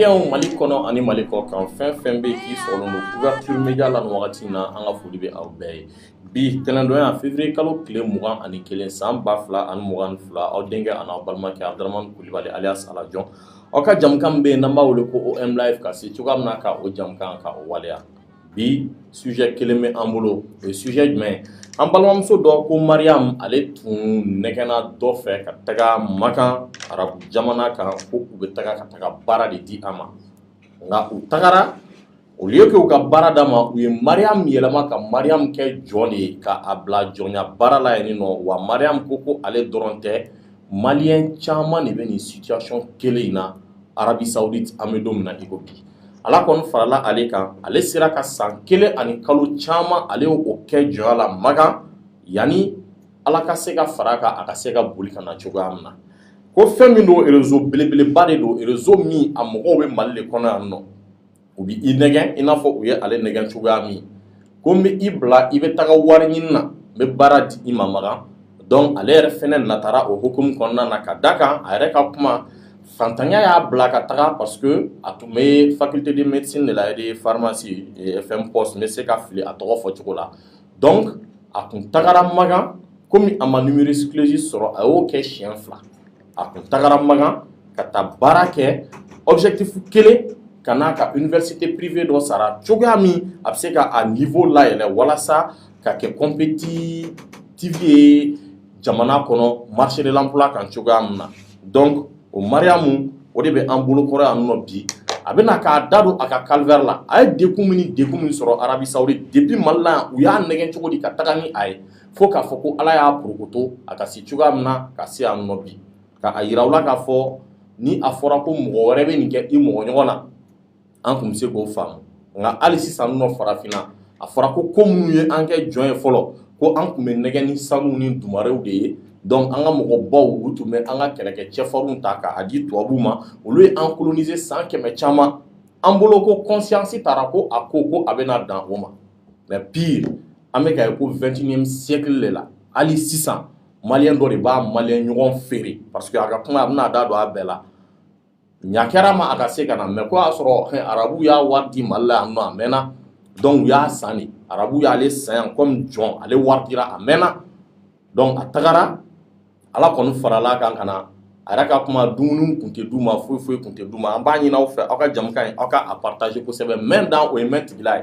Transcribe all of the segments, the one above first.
Yan mali kɔnɔ ani mali kɔ kan fɛn fɛn bɛ k'i sɔrɔ Ouverture Média la nin wagati na an ka foli bɛ aw bɛɛ ye bi tɛnɛndon yan février kalo tile mugan ani kelen san ba fila ani mugan fila aw denkɛ ani aw balimakɛ adaramani kulubali alias ala jɔn aw ka jɛmukan bɛ yen n'an b'a wele ko OM live ka se cogoya min na ka o jɛmukan ka o waleya bi sujɛ kelen bɛ an bolo o ye sujɛ jumɛn ye an balimamuso dɔ ko mariyamu ale tun nɛgɛna dɔ fɛ ka taga makan arabu jamana kan ko u bɛ taga ka taga baara de di a ma nka u tagara au lieu que u ka baara d'a ma u ye mariyamu yɛlɛma ka mariyamu kɛ jɔn de ye ka a bila jɔnya baara la yen nɔ wa mariyamu ko ko ale dɔrɔn tɛ malien caman de bɛ nin situation kelen in na Arabie Saoudite an bɛ don min na i ko bi ala kɔni farala ale kan ale sera ka san kelen ani kalo caman ale o kɛ jɔnya la makan yani ala ka se ka fara a kan a ka se ka boli ka na cogoya min na ko fɛn min don réseau belebeleba de don réseau min a mɔgɔw bɛ mali de kɔnɔ yan nɔ u bɛ i nɛgɛn i n'a fɔ u ye ale nɛgɛn cogoya min ko n bɛ i bila i bɛ taga wari ɲini na n bɛ baara di i ma makan donc ale yɛrɛ fana natara o hukumu kɔnɔna na ka da kan a yɛrɛ ka kuma fantanya y'a bila ka taga parce que a tun bɛ faculté de médecine de la de pharmacie FMPOS n bɛ se ka fili a tɔgɔ fɔ cogo la donc a tun tagara makan kɔmi a ma numerus clausus sɔrɔ a y'o kɛ siɲɛ fila a tun tagara makan ka taa baara kɛ objectif kelen ka n'a ka université privée dɔ sara cogoya min a bɛ se ka a niveau layɛlɛ walasa ka kɛ compétitif ye jamana kɔnɔ marché de l'emploi kan cogoya min na donc o mariyamu o de bɛ an bolo kɔrɔ yan nɔ bi a bɛna k'a da don a ka calvaire la a ye degun min ni degun min sɔrɔ Arabie Saoudite depuis Mali la yan u y'a nɛgɛn cogo di ka taga ni a ye fo k'a fɔ ko ala y'a porokoto a ka se cogoya min na ka se yan nɔ bi ka a jira aw la k'a fɔ ni a fɔra ko mɔgɔ wɛrɛ bɛ nin kɛ i mɔgɔ ɲɔgɔn na an tun bɛ se k'o faamu nka hali sisan nɔ farafinna a fɔra ko ko minnu ye an kɛ jɔn ye fɔlɔ ko an tun bɛ nɛgɛn ni sanu ni dumarew de ye donc an ka mɔgɔ baw u tun bɛ an ka kɛlɛkɛ cɛfarinw ta k'a di tubabuw ma olu ye an kolonise san kɛmɛ caman an bolo ko conscience tara ko a ko ko a bɛna dan o ma mais pire an bɛ ka ye ko vingt-et-unième siècle de la hali sisan malien dɔ de b'a malien ɲɔgɔn feere parce que a ka kuma a bɛna a da don a bɛɛ la ɲa kɛra ma a ka se ka na mais ko y'a sɔrɔ arabu y'a wari di mali la yan nɔ a mɛnna donc u y'a san arabu y'ale san kɔmi jɔn ale wari dira a mɛnna donc a tagara ala kɔni farala a kan ka na a yɛrɛ ka kuma dumuni tun tɛ d'u ma foyi foyi tun tɛ d'u ma an b'a ɲini aw fɛ aw ka jamu ye aw ka a pataze kosɛbɛ mɛn dan o ye mɛn tigi la ye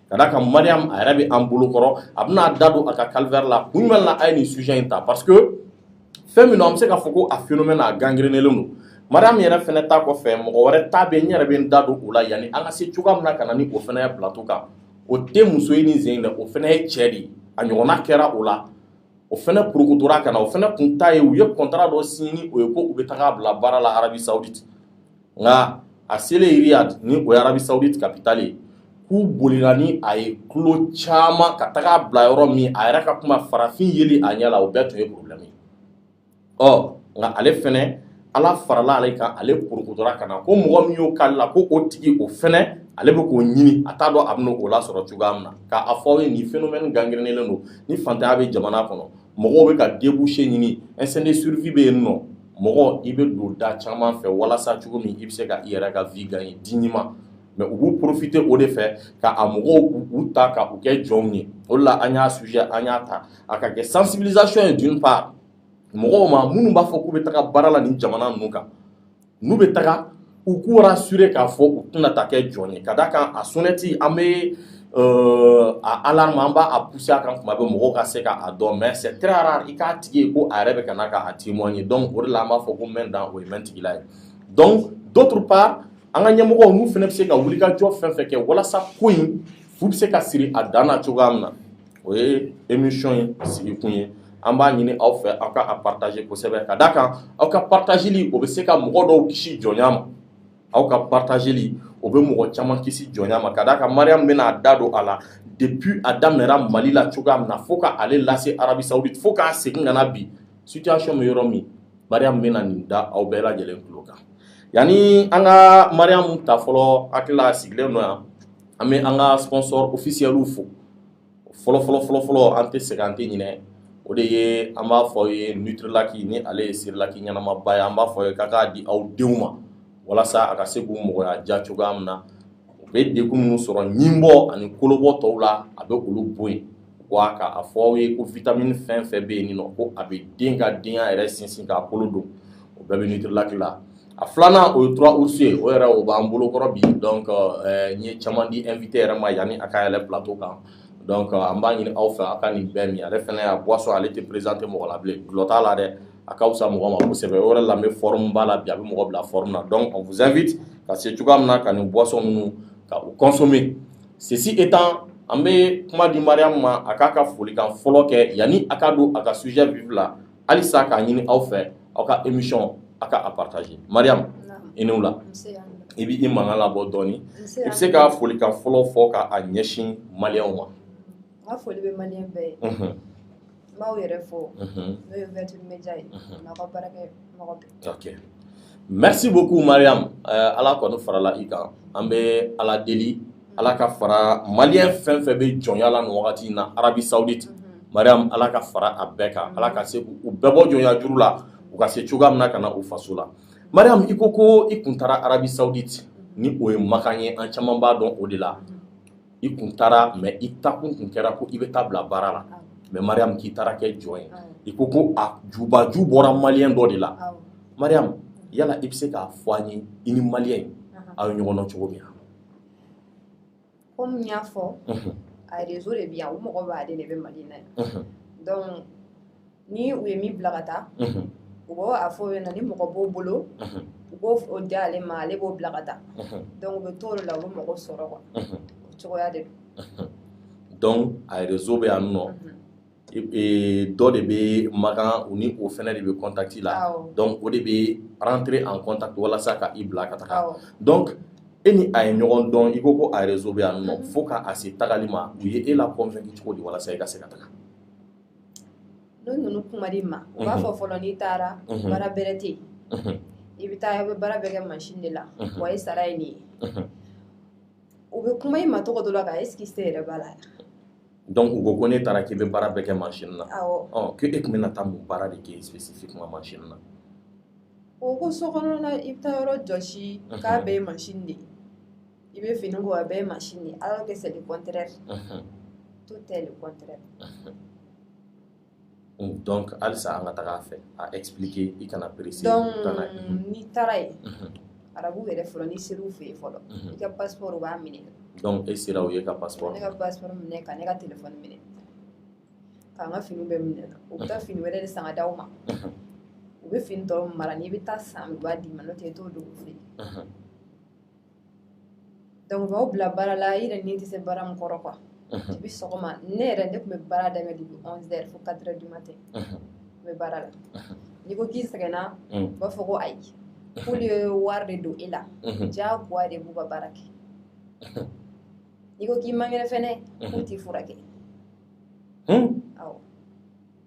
ka d'a kan mariam a yɛrɛ bɛ an bolo kɔrɔ a bɛna a da don a ka calvaire la kun jumɛn na an ye nin sujɛ in ta parce que fɛn min an bɛ se k'a fɔ ko a phénomène a gangrɛnnen don mariam in yɛrɛ fana ta kɔfɛ mɔgɔ wɛrɛ ta bɛ n yɛrɛ bɛ n da don o la yanni an ka se cogoya min na ka na ni o fana ye plateau kan o tɛ muso ye nin sen dɛ o fana ye cɛ de ye a ɲɔgɔnna kɛra o la o fana porokotora ka na o fana tun ta ye u ye kɔntara dɔ siɲɛ ni o ye ko u bɛ taa a bila baara la arabi sawuditi nka a selen riyad ni o ye arabi sawuditi kapitali ye k'u bolila ni a ye kilo caman ka taga a bila yɔrɔ min a yɛrɛ ka kuma farafin yeli a ɲɛ la o bɛɛ tun ye porobilɛmu ɔ nka ale fana ala farala ale kan ale porokotora ka na ko mɔgɔ min y'o k'ale la ko o tigi o fana ale bɛ k'o ɲini a t'a dɔn a bɛna o la sɔrɔ cogoya min na k'a fɔ aw ye nin phénomène gangrɛnnen don ni faantanya bɛ jamana kɔnɔ mɔgɔw bɛ ka débouché ɲini instinct de survie bɛ yen nɔ mɔgɔ i bɛ don da caman fɛ walasa cogo min i bɛ se ka i yɛrɛ ka vie gagner dignement mais u b'u porofite o de fɛ ka a mɔgɔw u ta ka u kɛ jɔnw ye o de la an y'a sujɛ an y'a ta a ka kɛ sensibilisation ye d'une part mɔgɔw ma minnu b'a fɔ k'u bɛ taga baara la nin jamana ninnu kan n'u bɛ taga u k'u rasure k'a fɔ u tɛna taa kɛ jɔn ye ka d'a kan a sonnɛti an bɛ euh, a alarme an b'a pousser a kan tuma bɛɛ mɔgɔw ka se k'a dɔn mais c'est très rare i k'a tigi ye ko a yɛrɛ bɛ ka na k'a témoigner donc o de la an b'a fɔ ko mɛn dan o ye mɛn tigi la ye donc d'autre part an ka ɲɛmɔgɔ ninnu fana bɛ se ka wulikajɔ fɛn fɛ kɛ walasa ko in fu bɛ se ka siri a dan na cogoya min na o ye emisiyɔn in sigikun ye an b'a ɲini aw fɛ aw ka a pataze kosɛbɛ ka d'a kan aw ka patazeli o bɛ se ka mɔgɔ dɔw kisi jɔnya ma aw ka patazeli o bɛ mɔgɔ caman kisi jɔnya ma ka d'a kan mariam bɛna a da don a la depuis a daminɛra mali la cogoya min na fo k'ale lase arabi sawuditi fo k'a segin ka na bi situwasiyɔn bɛ yɔrɔ min Mariam bɛna nin da aw bɛɛ lajɛlen tulo kan yanni an ka Mariam ta fɔlɔ n hakili la a sigilen don yan an bɛ an ka sponsor officiel fo fɔlɔ fɔlɔ fɔlɔ fɔlɔ an tɛ sɛgɛn an tɛ ɲinɛ o de ye an b'a fɔ aw ye Nutrilak ni ale ye cerelac ɲɛnamaba ye an b'a fɔ aw ye k'aw k'a di aw denw ma walasa a ka se k'u mɔgɔya diya cogoya min na u bɛ degun minnu sɔrɔ ɲinbɔ ani kolobɔ tɔw la a bɛ olu bɔ yen. wa k'a fɔ aw ye ko vitamini fɛn fɛn bɛ yen nɔ ko a bɛ den ka denya yɛrɛ sinsin k'a kolo don o bɛɛ bɛ Nutrilak la a filanan o ye tura usu ye o yɛrɛ o b'an bolokɔrɔ bi dɔn eh, n ye caman di invite yɛrɛ ma yanni a ka yɛlɛ plateau kan dɔn an b'a ɲini aw fɛ a ka nin bɛɛ min ale fana ye boisson ale tɛ présente mɔgɔ la bilen gulɔ t'a la dɛ a ka fisa mɔgɔ ma kosɛbɛ o yɛrɛ la n bɛ forme b'a la bi a bɛ mɔgɔ bila forme na donc on vous invite ka se cogoya min na ka nin boisson ninnu ka u consommer Ceci étant an bɛ kuma di mariam ma a k'a ka folikan fɔlɔ kɛ yani a ka don a ka sujet vif la halisa k'a ɲini aw fɛ aw ka émission aw ka a partager mariam i ni wula i bɛ i mankan labɔ dɔɔnin i bɛ se ka folikan fɔlɔ fɔ k'a ɲɛsin maliyɛnw ma n b'aw yɛrɛ fo n'o ye vɛti média ye n'a ka baarakɛ mɔgɔ bɛɛ merci beaucoup mariam eh, ala kɔni farala i kan an bɛ ala deli ala ka fara maliyɛn fɛn fɛn bɛ jɔnya la nin wagati in na arabie saudite mariam ala ka fara a bɛɛ kan ala ka se k'u bɛɛ bɔ jɔnya juru la u ka se cogoya min na ka na u faso la mariam i ko ko i kun taara arabie saudite ni o ye makan ye an caman b'a dɔn o de la i kun taara mɛ i taakun tun kɛra ko i bɛ taa bila baara la mɛ mariam k'i taara kɛ jɔn ye i ko ko a jubaju bɔra maliyɛn dɔ de la mariam yala i bɛ se k'a fɔ an ye i ni maliyɛn aw ye ɲɔgɔn dɔn cogo min komi y'a fɔ a de bɛ yan o mɔgɔ b'a de bɛ mali na ni u ye min bila ka taa u b'o a fɔ ye na ni mɔgɔ b'o bolo u b'o o di ale ma ale b'o bila ka taa dɔnku u bɛ to la u bɛ mɔgɔ sɔrɔ quoi o cogoya de don dɔnku a réseau bɛ yan nɔ dɔ de bɛ makan u ni o fana de bɛ contact la dɔnku o de bɛ rentrer en contact walasa ka i bila ka taa dɔnku e ni a ye ɲɔgɔn dɔn i ko ko a réseau bɛ yan nɔ fo k'a se tagali ma u ye e la convaincre cogo di walasa i ka se ka taa n'u ninnu kuma di ma u b'a fɔ fɔlɔ n'i taara baara bɛrɛ tɛ i bɛ taa bɛ baara bɛɛ kɛ machine de la wa i sara ye nin ye u bɛ kuma i ma cogo dɔ la ka e exciter yɛrɛ b'a la dɔnku u ko ko n'i taara k'i bɛ baara bɛɛ kɛ machine na k' e tun bɛ taa mun baara de kɛ spécifiquement machine na u ko so kɔnɔna i bɛ taa yɔrɔ jɔsi k'a bɛɛ ye machine de ye i bɛ fini ko a bɛɛ ye machine ye alors que c'est le contraire tout est le contraire donc halisa an ka taga a fɛ a expliquer i kana perese donc n'i taara yen arabu yɛrɛ fɔlɔ n'i ser'u fɛ yen fɔlɔ i ka passeport u b'a minɛ donc e sera u y'i ka passeport ne ka passeport minɛ ka ne ka telefɔni minɛ k'an ka finiw bɛɛ minɛ u bɛ taa fini wɛrɛ de san ka d'aw ma u bɛ fini tɔw mara n'i bɛ taa san u b'a d'i ma n'o tɛ i t'o don u fɛ yen dɔnku u b'aw bila baara la i yɛrɛ ni tɛ se baara min kɔrɔ quoi depuis sɔgɔma ne yɛrɛ ne tun bɛ baara daminɛ depuis 11 heures fo 4 heures du matin n bɛ baara la n'i ko k'i sɛgɛnna u b'a fɔ ko ayi k'olu ye wari de don e la diyagoya de i b'u ka baara kɛ n'i ko k'i man kɛnɛ fɛnɛ k'u t'i furakɛ awɔ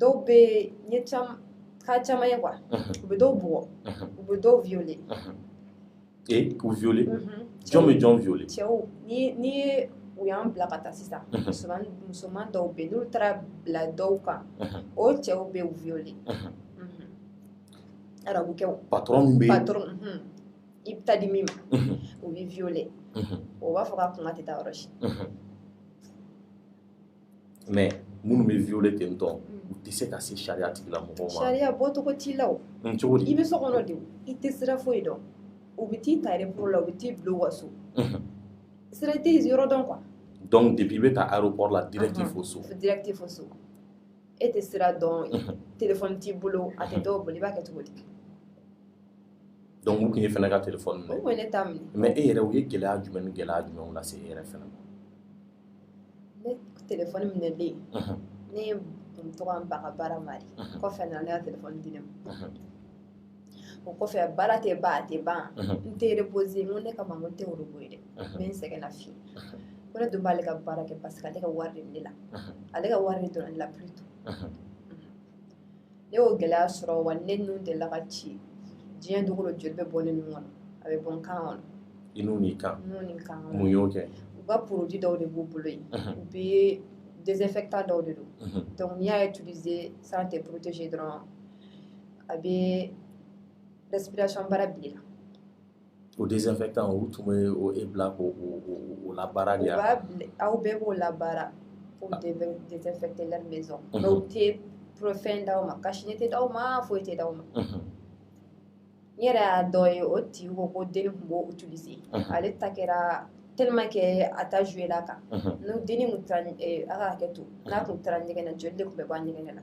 dɔw bɛ ɲɛ caman ka caman ye quoi u bɛ dɔw bugɔ u bɛ dɔw viole ee k'u viole jɔn bɛ jɔn viole cɛw ni ni ye u y'an bila ka taa sisan musoman musoman dɔw bɛ n'u taara bila dɔw kan o cɛw bɛ u viole arabu cɛw patron bɛ patron i bɛ taa di min ma o b'i viole o b'a fɔ k'a kuma tɛ taa yɔrɔ si mais minnu bɛ viole ten tɔ u tɛ se ka se sariya tigilamɔgɔw ma sariya bɔcogo t'i la o mm, cogo di i bɛ so kɔnɔ de i tɛ sira foyi dɔn u bɛ t'i ta aéroport la u bɛ t'i bila u ka so mhm. sira tɛ yen yɔrɔ dɔn quoi donc depuis i bɛ ta aéroport la direct fo so direct fo so e tɛ sira dɔn mhm. téléphone t'i bolo a tɛ dɔw bolo i b'a kɛ cogo di donc u tun y'e fana ka téléphone minɛ u tun ye ne ta minɛ mais e yɛrɛ u ye gɛlɛya jumɛn ni gɛlɛya jumɛnw lase e yɛrɛ fana ma telefɔni minɛ bɛ yen ne tun ka ban a ka baara ma de kɔfɛ a nana ne ka telefɔni di ne ma o kɔfɛ baara tɛ ban a tɛ ban n tɛ repoze n ko ne kama n ko n tɛ robot ye dɛ n bɛ n sɛgɛn lafiɲɛ ko ne dun b'ale ka baara kɛ parce que ale ka wari de bɛ ne la ale ka wari de donna ne la plutôt ne y'o gɛlɛya sɔrɔ wa ne nun delila ka ci diɲɛ don o don joli bɛ bɔ ne nun kɔnɔ a bɛ bɔ n kan kɔnɔ i nun n'i kan nun ni kan kɔnɔ mun y'o kɛ u ka produit dɔw de b'u bolo yen Mhm. u bɛ désinfectant dɔw de don Mhm. donc n'i y'a utiliser sans te protéger dɔrɔn a bɛ respiration baara bila i la O désinfectant o tun bɛ e bila ko la baara de aw bɛɛ b'o la baara pour désinfecter la maison u tɛ porofɛn d' aw ma cache-nez tɛ d' aw ma foyi tɛ d' aw ma n yɛrɛ y'a dɔ ye o ti ko ko den tun b' o utiliser ale ta kɛra tellement que a ta juguyala kan n'o den a ka hakɛ to n'a tun taara ɲɛgɛn na joli de tun bɛ bɔ ɲɛgɛn na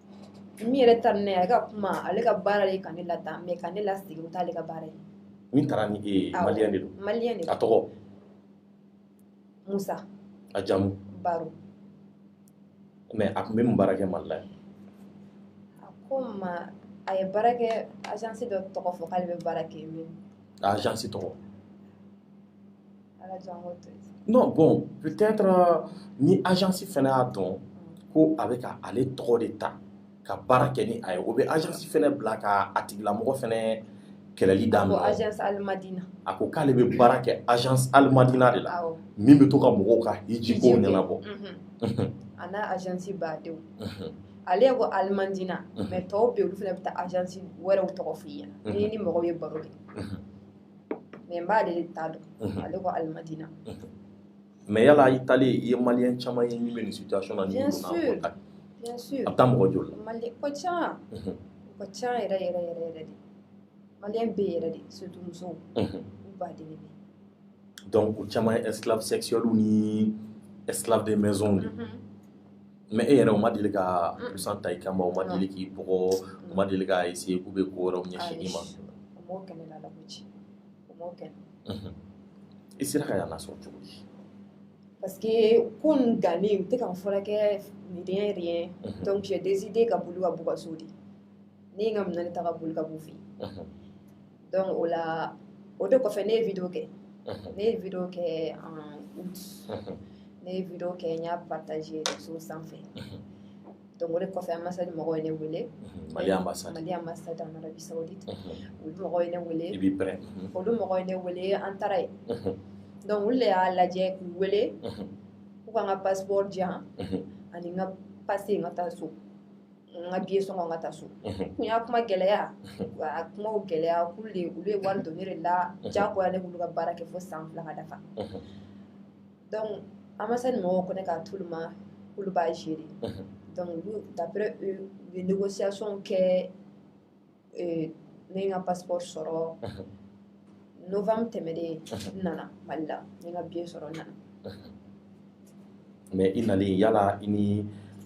min yɛrɛ taara ni ne ye a ka kuma ale ka baara de ka ne lataa mais ka ne lasegin o tɛ ale ka baara ye min taara ni e ye maliyɛn de don maliyɛn de a tɔgɔ musa a jamu baro mais a tun bɛ mun baara kɛ mali la a ko n ma a ye baara kɛ agence dɔ tɔgɔ fɔ k'ale bɛ baara kɛ min agence tɔgɔ non bon peut-être euh, ni agence fana y'a dɔn ko a bɛ ka ale tɔgɔ de ta ka baara kɛ ni a ye o bɛ agence fana bila ka a tigilamɔgɔ fana kɛlɛli daminɛ agence alimadina a ko k'ale bɛ baara kɛ agence alimadina de la min bɛ to ka mɔgɔw ka hijiko ɲɛnabɔ a n'a agence badenw ale ko alimadina mais tɔw bɛ olu fana bɛ taa agence wɛrɛw tɔgɔ f'i ɲɛna n'i ni mɔgɔw ye baro kɛ mais n b'ale de ta dɔn mhm. ale ko alimadina mhm. mais yala i taalen i ye maliyɛn caman ye min bɛ nin situation na bien sûr bien sûr a bɛ taa mɔgɔ joli la maliyɛn ka ca mhm. ka ca yɛrɛ yɛrɛ yɛrɛ riyad maliyɛn bɛ riyad surtout musow u ba de bɛ donc o caman ye esclave sexuels ni esclave de maison di mɛ e yɛrɛ u ma deli ka busan ta i kama u ma deli k'i bugɔ u ma deli k'a essayer k'u bɛ ko wɛrɛ ɲɛsin i ma i sera ka yan sɔrɔ cogo di parce que n kun gannen u tɛ ka n furakɛ rien rien donc j'ai décidé ka boli ka b'u ka so de ne ye n ka minɛn ta ka boli ka b'u fɛ yen donc o la o de kɔfɛ ne ye video kɛ ne ye video kɛ en août ne ye video kɛ n y'a partager réseau sanfɛ donc o de kɔfɛ ambassade mɔgɔw ye ne wele mali ambassade mali ambassade en arabie saoudite olu mɔgɔw ye ne wele i b'i pɛrɛn olu mɔgɔw ye ne wele an taara yen donc olu de y'a lajɛ k'u wele k'u ka n ka passeport di yan ani n ka pase n ka taa so n ka biye sɔngɔ n ka taa so k'u y'a kuma gɛlɛya a kumaw gɛlɛya ko olu ye wari don ne de la jagoya ne k'olu ka baara kɛ fo san fila ka dafa donc ambassade mɔgɔw ko ne k'a t'olu ma k'olu b'a gérer donc olu d'après eux u ye négociation kɛ eh, ne ye n ka pasipɔri sɔrɔ novembre tɛmɛnen n nana mali la n ye n ka biye sɔrɔ n nana mɛ i nalen yala i ni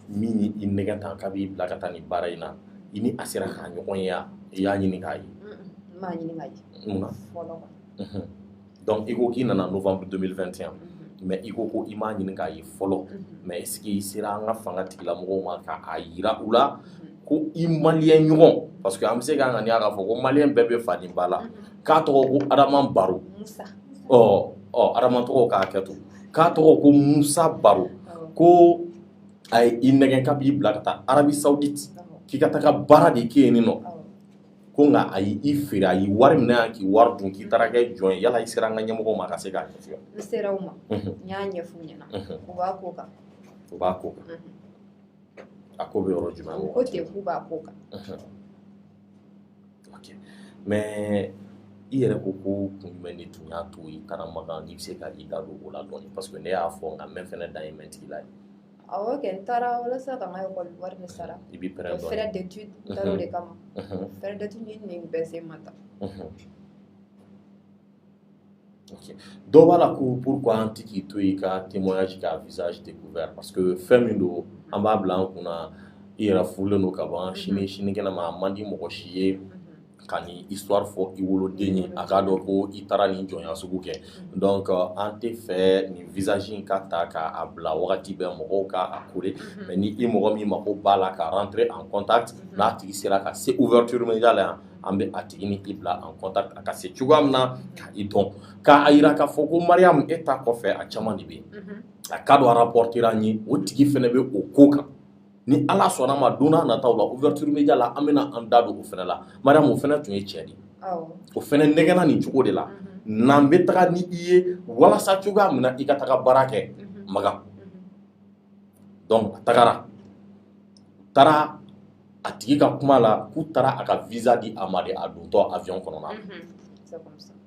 min ye i nɛgɛn tan k'a b'i bila ka taa nin baara in na i ni a sera ka ɲɔgɔn ye i y'a ɲini k'a ye n m'a ɲini k'a ye mun na fɔlɔ dɔnku i ko k'i nana novanburu deux mille vingt et un mɛ i ko ko i m'a ɲini k'a ye fɔlɔ mɛ est-ce que i sera an ka fanga tigila mɔgɔw ma k'a jira u la ko i maliyɛn ɲɔgɔn parce que an bɛ se k'an ŋaniya k'a fɔ ko maliyɛn bɛɛ bɛ fa ni ba la k'a tɔgɔ ko adama baro ɔ ɔ adama tɔgɔw ka hakɛ to k'a tɔgɔ ko musa baro ko a ye i nɛgɛn k'a b'i bila ka taa arabie saoudite k'i ka taa ka baara de kɛ yen nin nɔ ko nka a y' i feere a ye wari minɛ yan k'i wari dun k'i taara kɛ jɔn ye yala i sera an ka ɲɛmɔgɔw ma ka se k'a ɲɛfɔ n sera u ma n y'a ɲɛf'u ɲɛna u b'a ko kan u b'a ko kan a ko bɛ yɔrɔ jumɛn ko ten k'u b'a ko kan mɛ i yɛrɛ ko ko kun jumɛn de tun y'a to i taara makan n'i bɛ se ka i da don o la dɔɔnin parce que ne y'a fɔ nka mɛn fɛn dan ye mɛntigi la ye Awɔ kɛ, n taara walasa ka n ka école wari de sara, i b'i pɛrɛn dɔɔnin, frais d'étude n taara o de kama, unhun, frais d'étude ye nin bɛɛ sen ma ta, unhun, ok dɔ b'a la ko pourquoi an tɛ k'i to yen i ka témoignage kɛ à visage découvert parce que fɛn min don an b'a bila an kun na i yɛrɛ furulen don ka ban sini sinikɛnɛ ma a man di mɔgɔ si ye ka nin histoire fɔ i woloden ye a k'a dɔn ko i taara nin jɔnya sugu kɛ donc euh, an t'a fɛ nin visage in ka ta k'a bila wagati bɛɛ mɔgɔw ka a kore mhm. mais ni i mɔgɔ min mako b'a la ka rentrer en contact mhm. n'a tigi sera ka se ouverture média la yan an bɛ a tigi ni i bila en contact a ka se cogoya min na ka i dɔn k'a yira k'a fɔ ko mariyamu e ta kɔfɛ a caman de bɛ yen mhm. a k'a dɔn a rapportera an ye o tigi fana bɛ o ko kan ni ala sɔnna ma don nataw la ouverture média la an bɛna an da don o fana la mariyamu o fana tun ye cɛ de o fana nɛgɛgɛnna nin cogo de la n'an bɛ taga ni i ye walasa cogoya min na i ka taga baara kɛ makan donc a tagara taara a tigi ka kuma la k'u taara a ka visa di a ma de a dontɔ avion kɔnɔ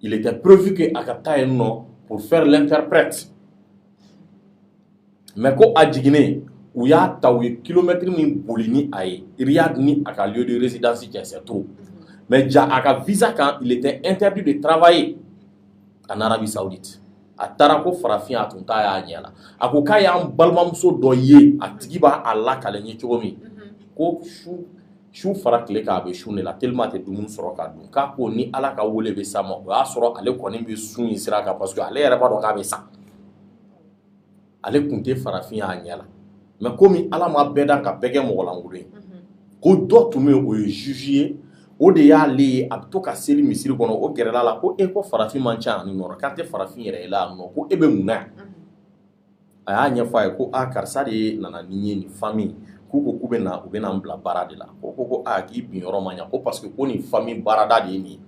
Il était prévu que a ka taa yen nɔ pour faire l'interprète mais ko a jiginnen u y'a ta u ye kilomɛtiri min boli ni a ye Riyad ni a ka lieu de résidence cɛ c'est trop mais ja a ka visa kan il était interdit de travailler en Arabie Saoudite a taara ko farafin a tun t'a y'a ɲɛ la a ko k'a y'an balimamuso dɔ ye a tigi b'a lakali n ye cogo min ko su su fara tile kan a bɛ sun de la tellement a tɛ dumuni sɔrɔ k'a dun k'a ko ni ala ka wele bɛ se a ma o y'a sɔrɔ ale kɔni bɛ sun in sira kan parce que ale yɛrɛ b'a dɔn k'a bɛ sa ale tun tɛ farafin y'a ɲɛ la mais komi ala ma bɛɛ da ka bɛɛ kɛ mɔgɔlankolon ye ko dɔ tun bɛ o ye juge ye o de y'ale ye a bɛ to ka seli misiri kɔnɔ o gɛrɛla a la ko e ko farafin man ca yan nɔ k'a tɛ farafin yɛrɛ ye yan nɔ ko e bɛ mun a y'a ɲɛfɔ a ye ko aa karisa de ye nana ni n ye nin famille k'u ko k'u bɛ na u bɛna n bila baara de la ko ko ko aa k'i bin yɔrɔ ma ɲa ko parce que ko nin famille baarada de ye nin ye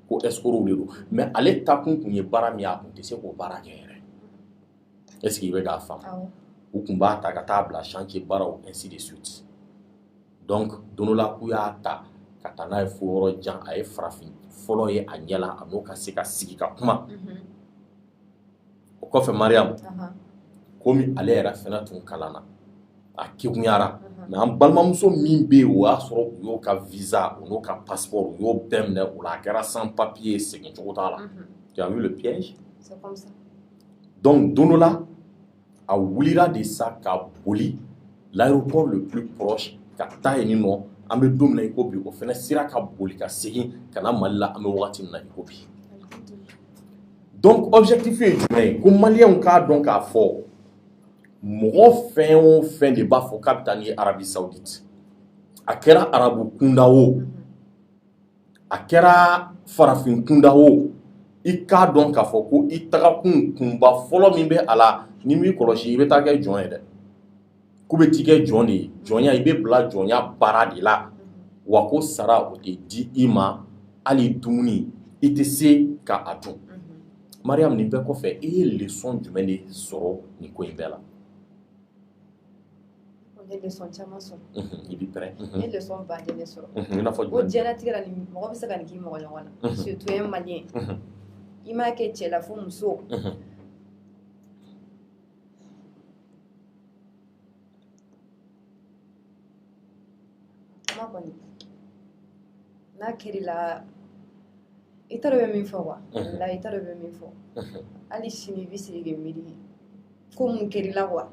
ko escroc de don mais ale taakun tun ye baara min ye a tun tɛ se k'o baara kɛ yɛrɛ est ce que i bɛ k'a faamu u tun b'a ta ka taa bila chantier baaraw ainsi de suite donc don dɔ la k'u y'a ta ka taa n'a ye fo yɔrɔ jan a ye farafin fɔlɔ ye a ɲɛ la a n'o ka se ka sigi ka kuma. Mm -hmm. o kɔfɛ mariyamu komi ale yɛrɛ fana tun kalanna a kekunyara mais an balimamuso min bɛ yen o y'a sɔrɔ u y'o ka visa u n'o ka passeport u y'o bɛɛ minɛ o la a kɛra sans papiers ye segin cogo t'a la ja le piège donc don dɔ la a wulila de sa ka boli l'aéroport le plus proche ka taa yen nɔ an bɛ don min na i ko bi o fana sera ka boli ka segin ka na mali la an bɛ waati min na i ko bi donc objectif ye jumɛn ye ko maliens k'a dɔn k'a fɔ mɔgɔ fɛn o fɛn de b'a fɔ k'a bɛ taa ni i ye Arabie Saoudite a kɛra arabu kunda o a kɛra farafin kunda o i k'a dɔn k'a fɔ ko i tagakun kunba fɔlɔ min bɛ a la n'i m'i kɔlɔsi i bɛ taa kɛ jɔn ye dɛ k'u bɛ t'i kɛ jɔn de ye jɔnya i bɛ bila jɔnya baara de la wa ko sara o tɛ di i ma hali dumuni i tɛ se ka a dun mariam nin bɛɛ kɔfɛ i ye lesɔn jumɛn de sɔrɔ nin ko in bɛɛ la Ne ye lesɔn caman sɔrɔ i bɛ pɛ ne ye lesɔn ba de sɔrɔ ko jigila tigɛra ni mɔgɔ bɛ se ka nin k'i mɔgɔ ɲɔgɔn na surtout i malien i m'a kɛ cɛ la fo muso ma kɔni n'a kɛr'i la i taara bɛ min fɔ wa la i taara bɛ min fo hali sini i bɛ sigi ka miiri ko mun kɛr'i la wa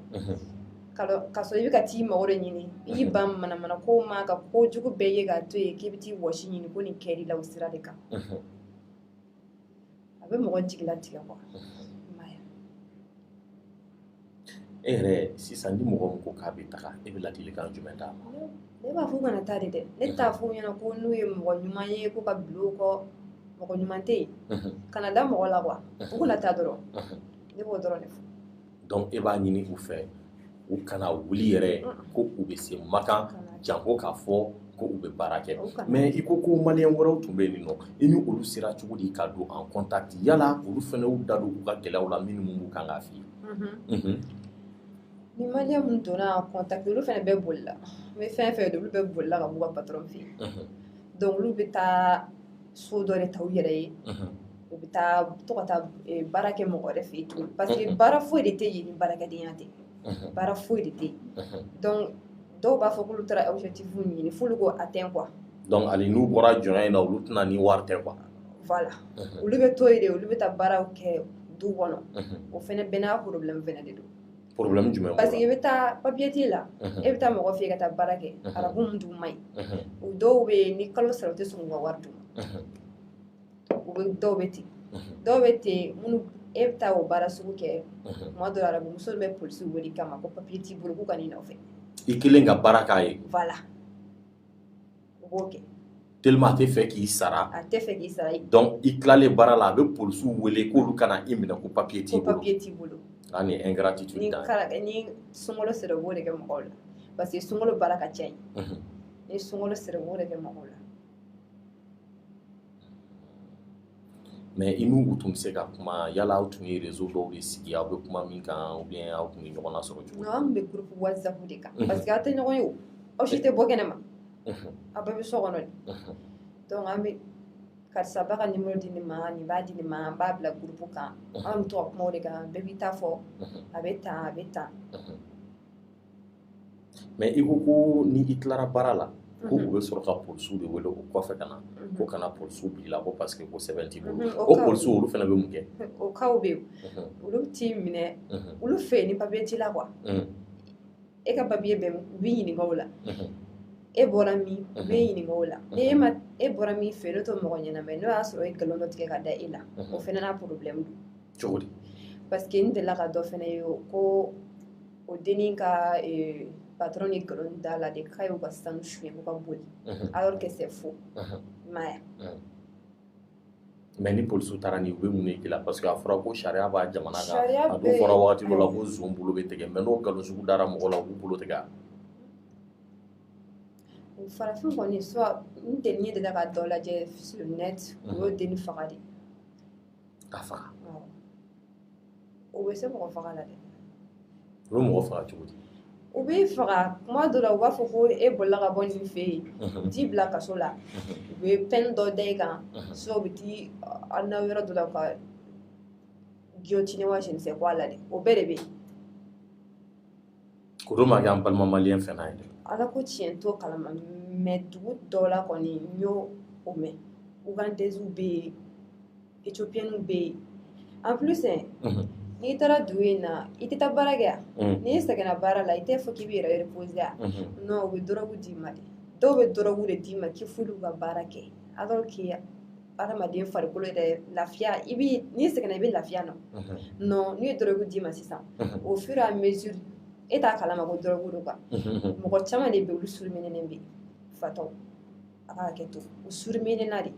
ka sɔrɔ i bɛ ka t'i mago de ɲini i y'i ban manamana ko ma ka ko jugu bɛɛ ye k'a to yen k'i bɛ t'i wɔsi ɲini ko nin kɛr'i la o sira de kan a bɛ mɔgɔ jigila tigɛ kuwa e yɛrɛ sisan ni mɔgɔ ko k'a bɛ taga e bɛ ladilikan jumɛn d'a ma ne b'a f'u kana taa de dɛ ne t'a f'u ɲɛna ko n'u ye mɔgɔ ɲuman ye k'u ka bol'o kɔ mɔgɔ ɲuman tɛ yen kana da mɔgɔ la kuwa u kana taa dɔrɔn ne b'o dɔrɔn de fɔ dɔnku e b'a ɲini u fɛ u kana wuli yɛrɛ ko u bɛ se makan janko k'a fɔ ko u bɛ baara kɛ mɛ i ko ko maliyɛn wɛrɛw tun bɛ yen nɔ i ni olu sera cogo di ka don an kɔntaki yala olu fana u da don u ka gɛlɛya la mun ni mun b'u kan ka fili ni maa min donna kɔntaki olu fana bɛɛ bolila n bɛ fɛn fɛn olu bɛɛ bolila ka b'u ka patɔrɔn fɛ yen dɔnku olu bɛ taa so dɔ de ta u yɛrɛ ye u bɛ taa to ka taa eh, baara kɛ mɔgɔ wɛrɛ fɛ yen tuguni parce que baara foyi de tɛ yen ni baarakɛdenya tɛ baara foyi de tɛ yen donc dɔw b'a fɔ k'olu taara objectif ɲini f'olu k'o atteint quoi donc hali n'u bɔra jɔnya in na olu tɛ na ni wari tɛ quoi voilà olu bɛ to yen de olu bɛ taa baaraw kɛ du kɔnɔ o fɛnɛ bɛɛ n'a problème fɛnɛ de don problème jumɛn parce que i bɛ taa papier t'i la e bɛ taa mɔgɔ fɛ yen ka taa baara kɛ arabu min dun man ɲi o dɔw bɛ yen ni kalo sara u tɛ sɔn k'u ka wari d'u ma u bɛ dɔw bɛ ten dɔw bɛ ten minnu e bɛ taa o baara sugu kɛ tuma dɔ arabu muso bɛ polisi wele i kama ko papiye t'i bolo k'u ka n'i nɔfɛ i kɛlen ka baara k'a ye voilà u b'o kɛ tellement a tɛ fɛ k'i sara a tɛ fɛ k'i sara donc i tilalen baara la a bɛ polisiw wele k'olu ka na i minɛ ko papiye t'i bolo ko papiye t'i bolo a ni ingratitude ni kalo ni sunkalo sera u b'o de kɛ mɔgɔw la parce que sunkalo baara ka ca yen ni sunkalo sera u b'o de kɛ mɔgɔw la mais i n'u u tun bɛ se ka kuma yala aw tun ye rezo dɔw de sigi aw bɛ kuma min kan aw bɛ aw tun bɛ ɲɔgɔn sɔrɔ cogo an bɛ groupe WhatsApp de kan parce que aw tɛ ɲɔgɔn ye o aw si tɛ bɔ kɛnɛ ma aw bɛɛ bɛ so kɔnɔ de an bɛ karisa b'a ka nimɛro di nin ma nin b'a di nin ma an b'a bila groupe kan an bɛ to kuma de kan bɛɛ b'i ta fɔ a bɛ taa a bɛ taa mais i ko ko ni i tilara baara la ko u bɛ sɔrɔ ka polisiw de wele o kɔfɛ ka na ko ka na polisiw bila i kɔ parce que ko sɛbɛn t'i bolo o polisiw olu fana bɛ mun kɛ o bɛ olu t'i minɛ olu fɛ yen ni papiye t'i la ko e ka papiye bɛ u b'a ɲininka i la e bɔra min u b'a ɲininka i la ni e ma e bɔra min fɛ n'o tɛ mɔgɔ ɲɛnama ye n'o y'a sɔrɔ e nkalon dɔ tigɛ ka da e la o fana n'a problème cogo di parce que n delila ka dɔ fana ye ko o dennin ka patron ye nkalon da a la de k'a y'u ka sanu sonya ko ka boli alors que c'est faux i m'a ye mais ni polisiw taara ni u bɛ mun de k'i la parce que a fɔra ko sariya b'a jamana kan a dun fɔra wagati dɔ la ko zon bolo bɛ tigɛ mais n'o nkalon sugu dara mɔgɔ la u b'u bolo tigɛ a farafin kɔni soit n tɛ ne deli ka dɔ lajɛ sur net u y'o denni faga de ka faga o bɛ se mɔgɔ faga la dɛ u bɛ mɔgɔ faga cogo di u b'i faga kuma dɔ la u b'a fɔ ko e bolila ka bɔ nin fɛ yen u t'i bila kaso la u bɛ pɛn dɔ da i kan so u bɛ t'i a na yɔrɔ dɔ la ka jiyɔtini wa sinisɛ bɔ a la dɛ o bɛɛ de bɛ yen k'o dɔ ma kɛ an balima malien fɛn na ye dɛ, Ala ko tiɲɛ n t'o kalama mais dugu dɔ la kɔni n y'o o mɛn Ougandaises bɛ yen Ethiopiennes bɛ yen en plus unhun, n'i taara dugu in na i tɛ taa baara kɛ wa, unhun, n'i sɛgɛnna baara la i t'a fɔ k'i b'i yɛrɛ reposer wa, unhun, non u bɛ dɔrɔgu d'i ma de, dɔw bɛ dɔrɔgu de d'i ma k'i f'olu ka baara kɛ alors que adamaden farikolo yɛrɛ lafiya i bɛ n'i sɛgɛnna i bɛ lafiya na non n'u ye dɔrɔgu d'i ma sisan au fur et à mesure e t'a kalama ko dɔrɔgu don quoi mɔgɔ caman de bɛ olu surumininen bɛ fatɔ a ka hakɛ to u suruminenna de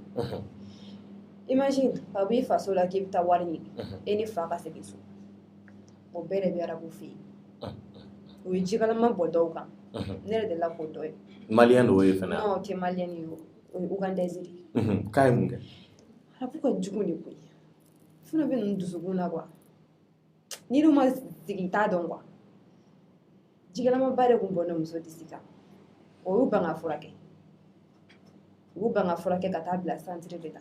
imagine ka bɔ i faso la k'i bɛ taa wari ɲini e ni fa ka segin so o bɛɛ de bɛ arabu fɛ yen u ye jikalama bɔn dɔw kan ne yɛrɛ delila k'o dɔ ye maliyɛn dɔw ye fana o tɛ maliyɛn ye o O ye Ougandaise de ye k'a ye mun kɛ arabu ka jugu de koniya fana bɛ ninnu dusukun na quoi n'i n'u ma sigi i t'a dɔn quoi jikalamaba de tun bɔnna muso disi kan u y'u ban k'a furakɛ u y'u ban k'a furakɛ ka t'a bila santiri de la